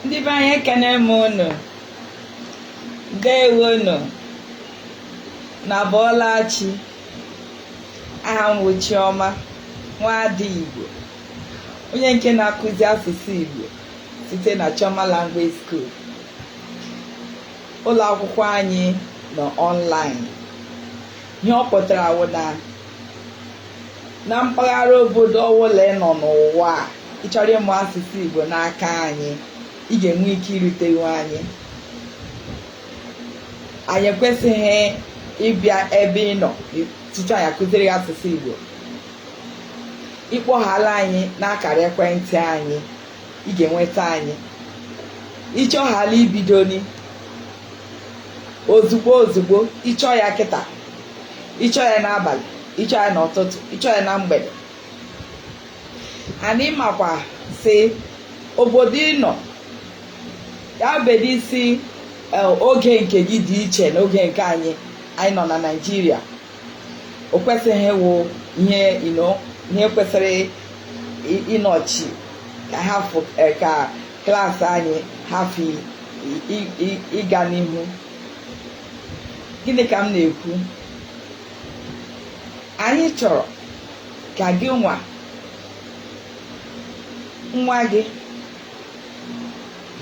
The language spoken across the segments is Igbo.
ndị be anyị ekene m unu ndewo nụ unu abọọla chi aha m bụ Chiọma nwaada Igbo onye nke na-akụzi asụsụ Igbo site na Chioma Language School ụlọ akwụkwọ anyị nọ online Ihe ọ pụtara wụ na na mpaghara obodo ọwụla ị nọ n'ụwa a, ị chọrọ ịmụ asụsụ Igbo n'aka anyị, ị ga-enwe ike irutewu anyị. Anyị ekwesịghị ịbịa ebe ị nọ tutu anyị akụziere gị asụsụ Igbo. Ị kpọhaala anyị n'akara ekwentị anyị, ị ga-enweta anyị. Ị chọhaala ibidoni, ozugbo ozugbo ị chọọ ya kịta ị chọọ ya n'abalị ị chọọ ya n'ụtụtụ ị chọọ ya na mgbede anyị makwa sị obodo ị nọ ya bedi isi e, oge nke gị dị iche na oge nke anyị anyị nọ na Naịjirịa o kwesịghị ịwụ ihe ihe kwesịrị ịnọchi ka ha e, ka klaasị anyị hafụ ịga n'ihu gịnị ka m na-ekwu anyị chọrọ ka gị nwa nwa gị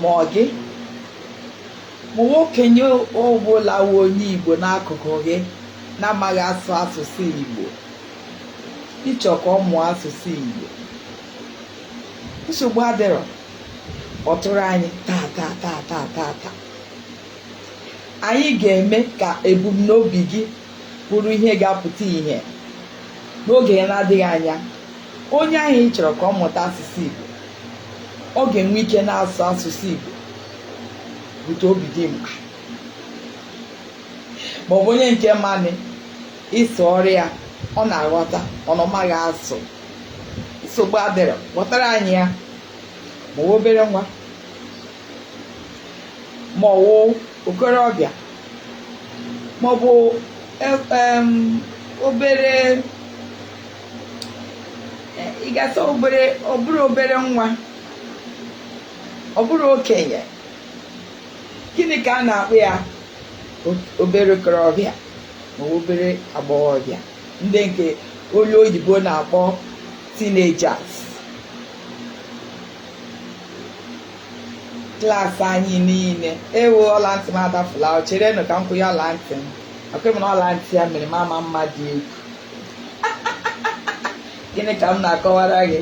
ma ọ gị ma ọ wụ okenye ọbụla wụ onye Igbo n'akụkụ gị na-amaghị asụ asụsụ Igbo ị chọọ ka ọ mụọ asụsụ Igbo nsogbu adịrọ kpọtụrụ anyị taa taa taa taa taa taa anyị ga-eme ka ebumnobi gị bụrụ ihe ga-apụta ihe n'oge na-adịghị anya onye ahụ ị chọrọ ka ọ mụta asụsụ Igbo ọ ga-enwe ike na-asụ asụsụ Igbo bute obi dị mkpa maọbụ onye nke ma anụ ịsụ ọ rịa ya ọ na-aghọta ọ na ọ maghị asụ nsogbu adịrọ kpọtara anyị ya ma ọwụ obere nwa ma ọwụ okorobịa ma ọ bụ e- em, obere eh, ị ga-asị obere ọ bụrụ obere nwa ọ bụrụ okenye gịnị ka a na-akpọ ya O- obere okorobịa ma ọ bụ obere agbọghọbịa ndị nke onye oyibo na-akpọ teenagers class anyị niile ewo ọla ntị m adafula o cherenụ ka m kwunye ọla ntị m akwa m na ọla ntị ya mere m ama mma dị egwu gịnị ka m na-akọwara gị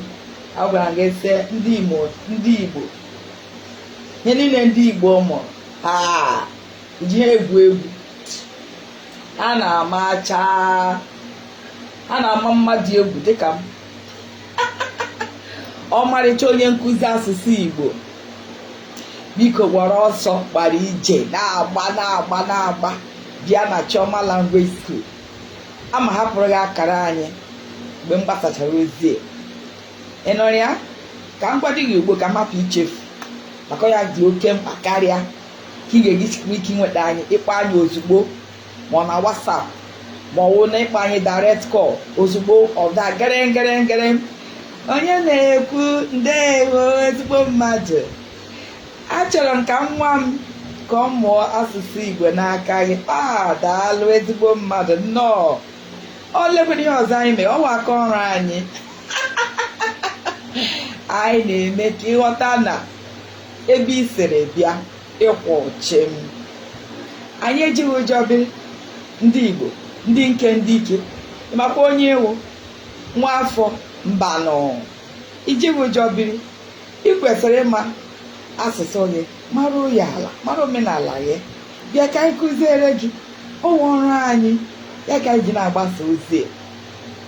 agwara m gị sị ndị igbo ndị igbo ihe niile ndị igbo mụrụ ha ejighị ha egwu egwu ha na-amacha ha na-ama mma dị egwu dịka m ọmarịcha onye nkụzi asụsụ Igbo biko gbara ọsọ gbara ije na-agba na-agba na-agba bịa na Chioma Language School aga m ahapụrụ gị akara anyị mgbe m gbasachara ozi a ị nụrụ ya ka m gwa gị ugbu a ka m hapụ ichefu maka ọ ya dị oke mkpa karịa ka ị ga-eji sikwa ike inweta anyị ịkpọ anyị ozugbo ma ọ na WhatsApp ma ọ wụ na ịkpọ anyị direct call ozugbo ọ daa gerengerengere onye na-ekwu ndewo ezigbo mmadụ achọrọ m ka nwa m ka ọ mụọ asụsụ Igbo n'aka gị a daalụ ezigbo mmadụ nnọọ olekwanụ ihe ọzọ anyị mee ọ wụ aka ọrụ anyị anyị na-eme ka ị ghọta na ebe i siri bịa ị kwụ chịm anyị ejighị ụjọ biri ndị igbo ndị nke ndị ike ị makwa onye ị wụ nwa afọ mbanụ i jighị ụjọ biri ị kwesịrị ịma asụsụ gị mara ya ala mara omenala gị bịa ka anyị kụziere gị ọ wụ ọrụ anyị ya ka anyị ji na-agbasa ozi a.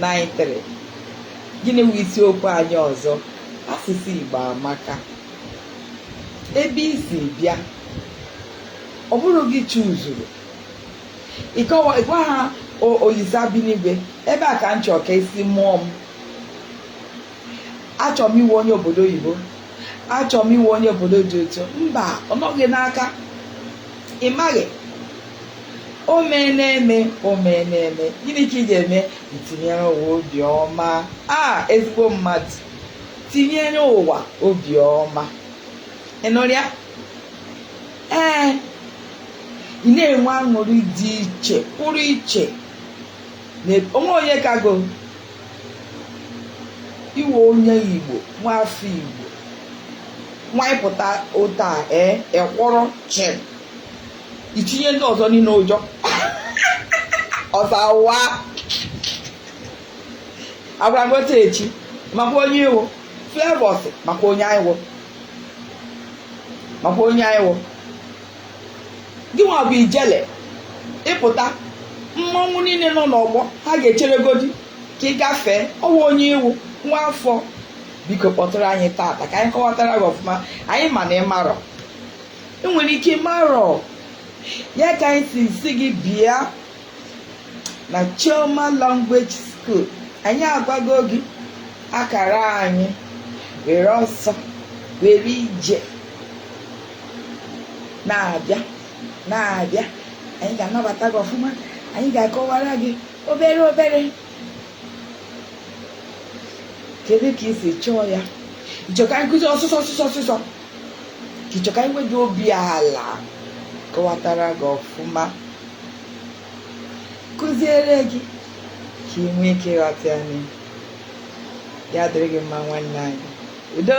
93 gịnị wụ isiokwu anyị ọzọ asụsụ Igbo amaka ebe i si bịa ọ bụrụ gị chuzuru ị gwa ha Olisa bi n'igwe ebe a ka m chọọ ka e si mụọ m achọrọ m ịwụ onye obodo oyibo achọrọ m ịwụ onye obodo dị otu mba ọ nọghị n'aka ị maghị o mee na-eme o mee na-eme gịnị ka ị ga-eme i tinyere ụwa obiọma a ezigbo mmadụ tinyere ụwa obiọma ị nụrụ ya ee ị na-enwe aṅụrị dị iche pụrụ iche na- o nwee onye kago ịwụ onye igbo nwa afọ igbo nwanyị pụta ụta ee ị kwụrụ chịm itinye ndị ọzọ niile ụjọ ọzọ awụwa agwara m otu echi makwa onye ị wụ Flavour sị makwa onye anyị wụ makwa onye anyị wụ gị nwa bụ ijele ị pụta mmọnwụ niile nọ n'ọgbọ ha ga-echere godi ka ị gafee ọ wụ onye ị wụ nwa afọ biko kpọtụrụ anyị taata ka anyị kọwatara gị ọfụma anyị ma na ị marọ ị nwere ike ị marọ ya ka anyị si sị gị bịa na Chioma Language School anyị agwago gị akara anyị were ọsọ were ije na-abịa na-abịa anyị ga-anabata gị ọfụma anyị ga-akọwara gị obere obere kedu ka i si chọọ ya ị chọ ka anyị kụzie ọsịsọ ọsịsọ ọsịsọ ka ị chọ ka anyị wee ji obi ala kọwatara gị ọfụma kụziere gị ka ị nwee ike ịghọta anyị ya dịrị gị mma nwanne anyị udo